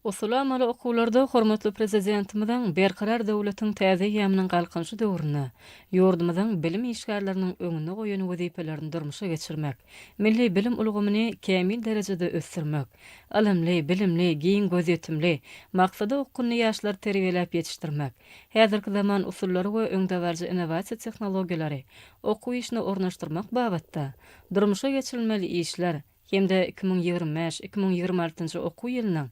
Usuly-amaly okuwlarda hormatly Prezidentimiziň Berkarar döwletiň täze eýýamynyň Galkynyşy döwründe ýurdumyzyň bilim işgärleriniň öňünde goýan wezipelerini durmuşa geçirmek, milli bilim ulgamyny kämil derejede ösdürmek, ylymly, bilimli, giň gözýetimli, maksada okgunly ýaşlary terbiýeläp ýetişdirmek, häzirki zaman usullary we öňdebaryjy innowasiýa tehnologiýalary okuw işine ornaşdyrmak babatda durmuşa geçirilmeli işler hem-de iki müň ýigrimi bäş, iki müň ýigrimi altynjy okuw ýylynyň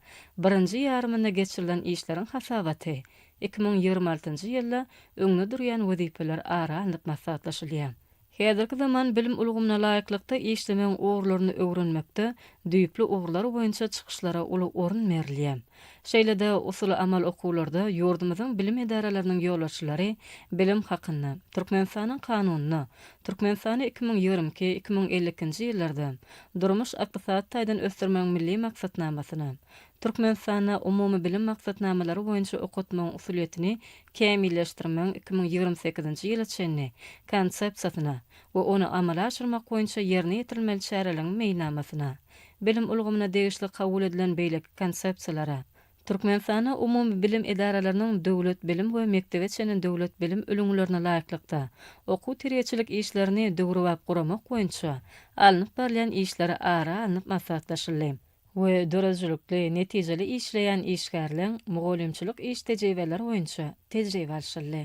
birinji ýarymynda geçirilen işleriň hasabaty iki müň ýigrimi altynjy ýylda öňde durýan wezipeler ara alnyp maslahatlaşylýar. Häzirki zaman bilim ulgamyna laýyklykda işlemegiň ugurlaryny öwrenmekde düýpli ugurlar boýunça çykyşlara uly orun berilýär. Şeýle-de usuly-amal okuwlarda ýurdumyzyň bilim edaralarynyň ýolbaşçylary bilim hakynda, Türkmenistanyň Kanunyna, Türkmenistany iki müň ýigrimi iki, iki müň elli ikinji ýyllarda durmuş-ykdysady taýdan ösdürmegiň Milli maksatnamasyna, Türkmenistanda umumybilim maksatnamalary boýunça okatmagyň usulyýetini kämilleşdirmegiň iki müň ýigrimi sekizinji ýyla çenli Konsepsiýasyna we ony amala aşyrmak boýunça ýerine ýetirilmeli çäreleriň meýilnamasyna Bilim ulgamyna degişli kabul edilen beýleki konsepsiýalara, Türkmenistanda umumy bilim edaralarynyň döwlet bilim we mekdebe çenli döwlet bilim ülňülerine laýyklykda okuw-terbiýeçilik işlerini döwrebap guramak boýunça alnyp barylýan işleri ara alnyp maslahatlaşyldy we döredijilikli, netijeli işleýän işgärleň mugallymçylyk iş tejribeleri boýunça tejribe alşyldy.